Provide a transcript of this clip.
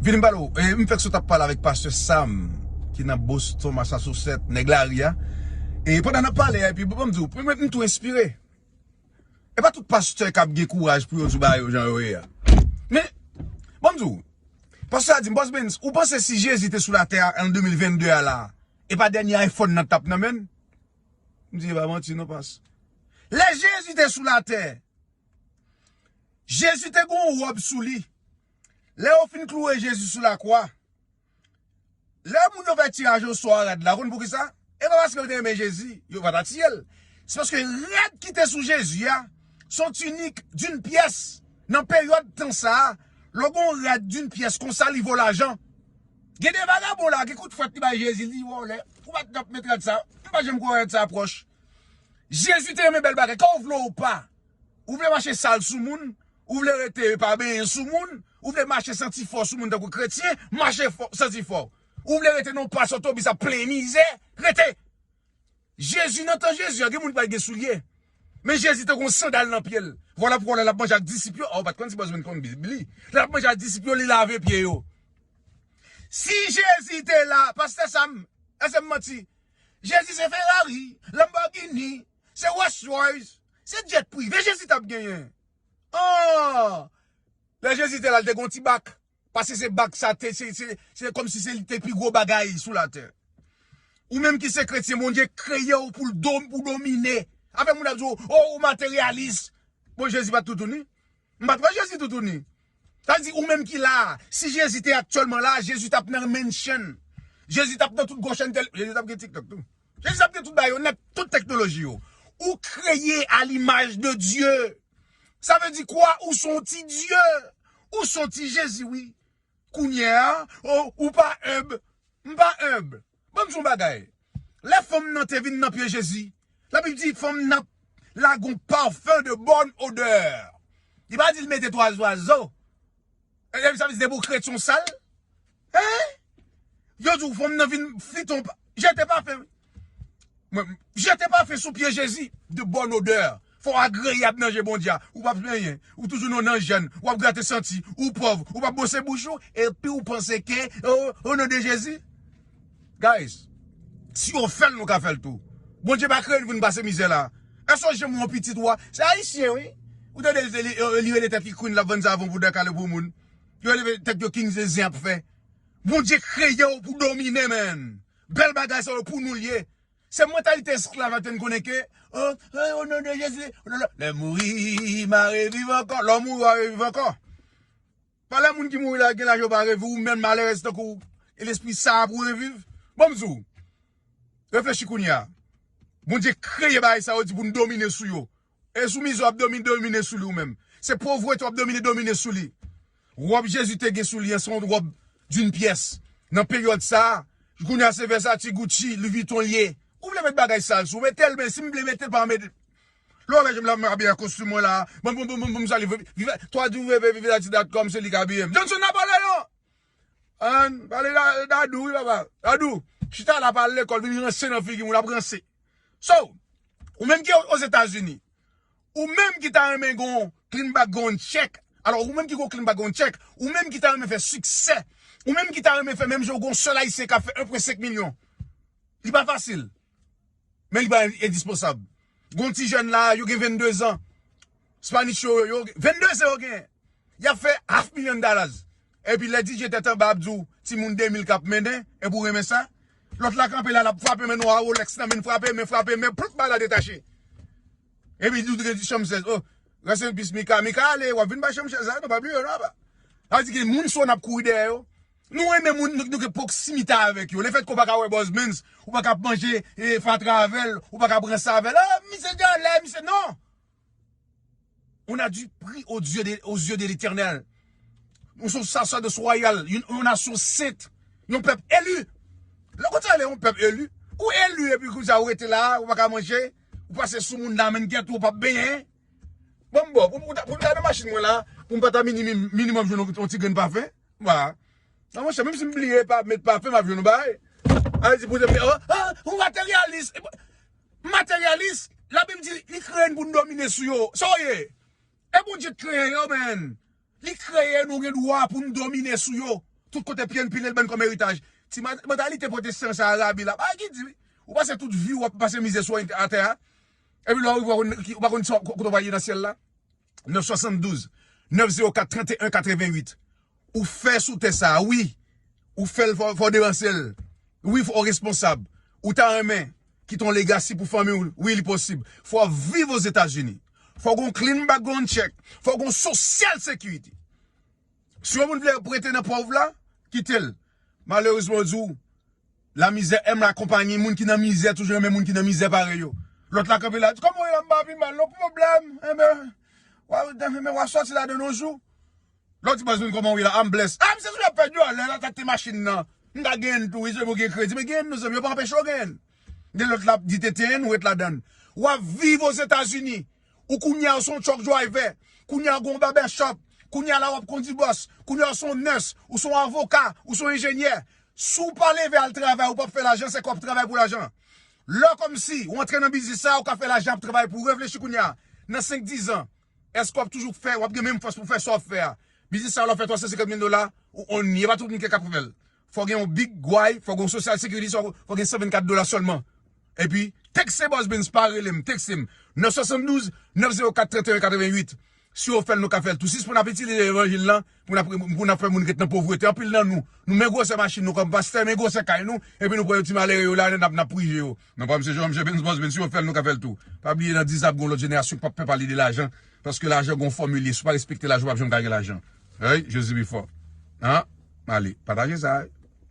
Vin m pale w, m fèk sot ap pale avèk pastè Sam ki nan Boston Massasousèt, nèg lari a, e pandan nap pale a epi banm di w, mwen menm m tou enspire, e pa tout pastè kap gen kouraj pou yo di w bagay yo jan yo ye a, men banm di w, pastè a di m, Boss Bens ou panse si Jezi te sou latè a an 2022 a la, e pa dènye iPhone nan tap nan men l? M di e pa manti non pas, lè Jezi te sou latè, Jezi te gon wòb sou li, Lè yo fin klouwe Jezi sou lakwa, lè moun yo fè tiraj o sò a rad la, ou konn poukisa? E pa paske yo te renmen Jezi, yo pa ta tiye l. Se paske rad ki te sou Jezi a, se yon tinik doun pyès. Nan peryòd tan sa a, lè w gen yon rad doun pyès konsa, li vo lajan. Gen de vagabon la a, gen kout fwèt li bay Jezi, li di, Vòlè, ou pa t dap met rad sa a? M pa janm kwè rad sa a pwòch. Jezi te renmen bèl bagay, ka w vle w pa. Ou vle mache sal sou moun, ou vle rete pa benyen sou moun, ou vle mache santi fò sou moun tankou kretyen, mache fò, santi fò. Ou vle rete nan yon plas otobis ap plen mizè, rete. Jezi, nan tan Jezi an, gen moun ki pa t gen soulye. Men Jezi te gen yon sandal nan pye l. Vwala poukò lè l ap manje ak disip yo, a ou pa t konn si Bòzwen te konn Bib li. Lè l ap manje ak disip yo, li lave pye yo. Si Jezi te la, pastè Sam, èske m manti? Jezi se Ferrari, Lamborghini, Se Rolls Royce, se jet prive Jezi tap genyen. Ahh! Lè Jezi te la li te gen yon ti bak, paske se bak sa te se se se kòm si se li te pi gwo bagay sou latè. Ou menm ki se kretyen Bondye kreye w pou l do pou w domine. Afè moun ap di w o ou materyalis. Bon Jezi pat toutouni? M pat wè Jezi toutouni. Sa vle di ou menm ki la a, si Jezi te aktyèlman la a, Jezi tap nan mansion. Jezi tap nan tout gwo chantèl, Jezi tap gen TikTok tou. Jesus ap gen tout bagay yo nèt, tout teknoloji yo. Ou kreye a l'image de Dieu. Sa vle di kwa ou son ti Dieu. Ou son ti Jezi wi. Kounye a, oh, ou pa humble. M pa humble. Banm di yon bagay. Lè fanm nan te vin nan pye Jezi, la Bib di fanm nan lage yon parfum de bonne odeur. Li pa di l mete 3 zwazo. Ebyen misye ap di se pou kretyon sal. Hein? Yo di w fanm nan vin fiton pa. Jete pafen wi. Mwen jete pafen sou pye Jezi. De bonne odeur. Fò w agreyab nan je Bondye a. Ou pap plenyen. Ou toujou nan w nan jèn. Ou ap grate santi. Ou pòv. Ou pap bwose bouch ou. Epi w panse ke. O non de Jezi. Guys, si yo fèl nou ka fèl tou. Bondye pa kreye nou pou nou pase mizè la. Èske ou janm wè yon pitit ou a, se ayisyen wi. Ou tande li rele tèt li Queen lap vann savon pou dan kale pou moun. Yo rele tèt yo King Zeze ap fè. Bondye kreye ou pou domine man. Bèl bagay sa yo pou nou li ye. Se mantalite esklav la ki fè nou konnen ke oh o non de Jezi. Lè mouri ma reviv ankò. Lè ou mouri wa reviv ankò. Pale moun ki mouri la gen laj yo pa reviv ou menm malerèz tankouw e lespri saa pou reviv banm diw reflechi kounya Bondye kreye bagay sa yo di poun domine sou yo e sou mizè wap domine domine sou li ou menm se povrete wap domine domine sou li rob Jezi te gen sou li an se yon rob d'une pièce nan peryòd saa kounya se Versace Gucci Louis Vuitton liye ou vle met bagay sal sou metel men sim vle metel pa met Lorè jem la mwen abiye ak kostim mwen la. Banm banm banm banm sali viv www.vivehaiti.com se li kap abiyem. Johnson nan pale yo! An pale Dadou wi papa. Dadou chita la pa al lekòl vin ranse nan figi moun ap ranse. So ou menm ki ozetazini ou menm ki ta renmen gen yon clean background check alò ou menm ki gen yon clean background check ou menm ki ta renmen fè siksè ou menm ki ta renmen fè menm jan yon sèl ayisyen kap fè 1.5 milyon li pa fasil. Men li pa endispansab. Gon ti jèn la, yo gen 22 zan. Spanish yo, yo gen 22 zan yo gen. Y ap fè half million dollars. Epi lè DJ tèt anba ap di w ti moun 2000 k ap mennen, epi w renmen sa. Lòt la kanpe la, l ap frape men nou a Rolex nan men, frape men, frape men, ploup bay la detache. Epi li di chanm 16, oh, rest in peace Mika. Mika ale, w ap vin bay chanm 16 la, nou pa bliye w nan apa. Sa vle di gen moun sou an ap kouri dèyè yo. Nou renmen moun nou gen pwoksimite avèk yo. Lefèt ke w pa ka wè Bòz Mens, ou pa ka ap manje fatra avè l, ou pa ka ap ranse avè l, ah misye gen alè, misye non! On a du pri o zye de letènèl. Nou se yon sasadòs wayal, yon nasyon sent, yon pèp eli. Lè kote ale yon pèp eli, ou eli epi kou sa ou rete la, ou pa ka manje, ou pase sou moun nan menn kèt ou, ou pa benyen. Bon m bò, pou m gade machin mwen la, pou m pa ta minimum joun yon ti grenn pafen. Wa. Nan monchè, menm si m bliye pa met pafen m ap jwenn yon bagay. Al di pou zèmye, oh, oh, ou materyalis. M materyalis? Labib di li kreye n pou n domine sou yo. Sa w ye? E Bondye t kreye yo, men. Li kreye nou gen dwa pou n domine sou yo. Tout kote pye n pile l ban n kòm eritaj. Ti mantalite pwotestan sa a rabi la. Bagay ki di wi. Ou pase tout vi w ap pase mize sou atè a. Epi lè w rive ou pa konn kote w va ye nan syèl la. 972 904 31 88 ou fè sou tè sa wi ou fèl fò devansel wi fò responsab ou ta renmen kite yon legasi pou fanmi ou wi li posib fò viv ozetazini fò gon clean background check fò gon sosyal sekirite si yon moun vle prete nan pov la kitel malerezman yo di w La mizè aime la compagnie moun ki nan mizè toujou renmen moun ki nan mizè parèy yo lòt la kanpe la di kòman ye la m pa pi mal non pwoblèm enben wa enben wa sòti ladan l on jou lòt di baz mwen kòman w ye la a m bless a misye toujou ap pèdi a lè l atakte machin nan m ta genyen l tou wi si sèlman w gen kredi men genyen l non zanmi yo pa anpeche w genyen l gen lòt l ap di tenten n ou ret ladan l w ap viv ozetazini Ou kounya ou son truck driver, kounya ou gen yon barbershop, kounya la wap kondi bus, kounya ou son nurse, ou son avoka, ou son enjenyè. Si w pa leve al travay ou pap fè lajan se kòw ap travay pou lajan. Lè kòmsi ou antre nan biznis sa ou ka fè lajan ap travay pou reflechi kounya nan 5 10 ans èske wap toujou k fè wap gen menm fòs pou fè sa wap fè a. Biznis sa lè w fè 350 mil dola ou on ni e pa tout moun ki kap fè l. Fò gen yon big gway, fò gen yon social security, fò gen 124 dola sèlman. Epi, tekse Boss Benz pa rele m, tekse m nan 72 904 31 88. Si w fè l nou ka fè l tou. Sispann ap itilize levanjil lan pou n ap fè moun ret nan povrete. Anpil nan nou, nou men gwosè machin nou kòm pastè, men gwosè kay nou, epi nou pran yon ti malere yo la, n ap prije yo. Non pa msye Jean, msye Ben's Boss, men si yo fèl nou ka fèl tou. Pa bliye nan 10 an ap gen yon lòt jenerasyon k pap pè pale de lajan, paske lajan gen yon fòmil li, si w pa respekte lajan w pap janm ka gen lajan. Eyy, Jezi pi fò. An, ale, pataje sa.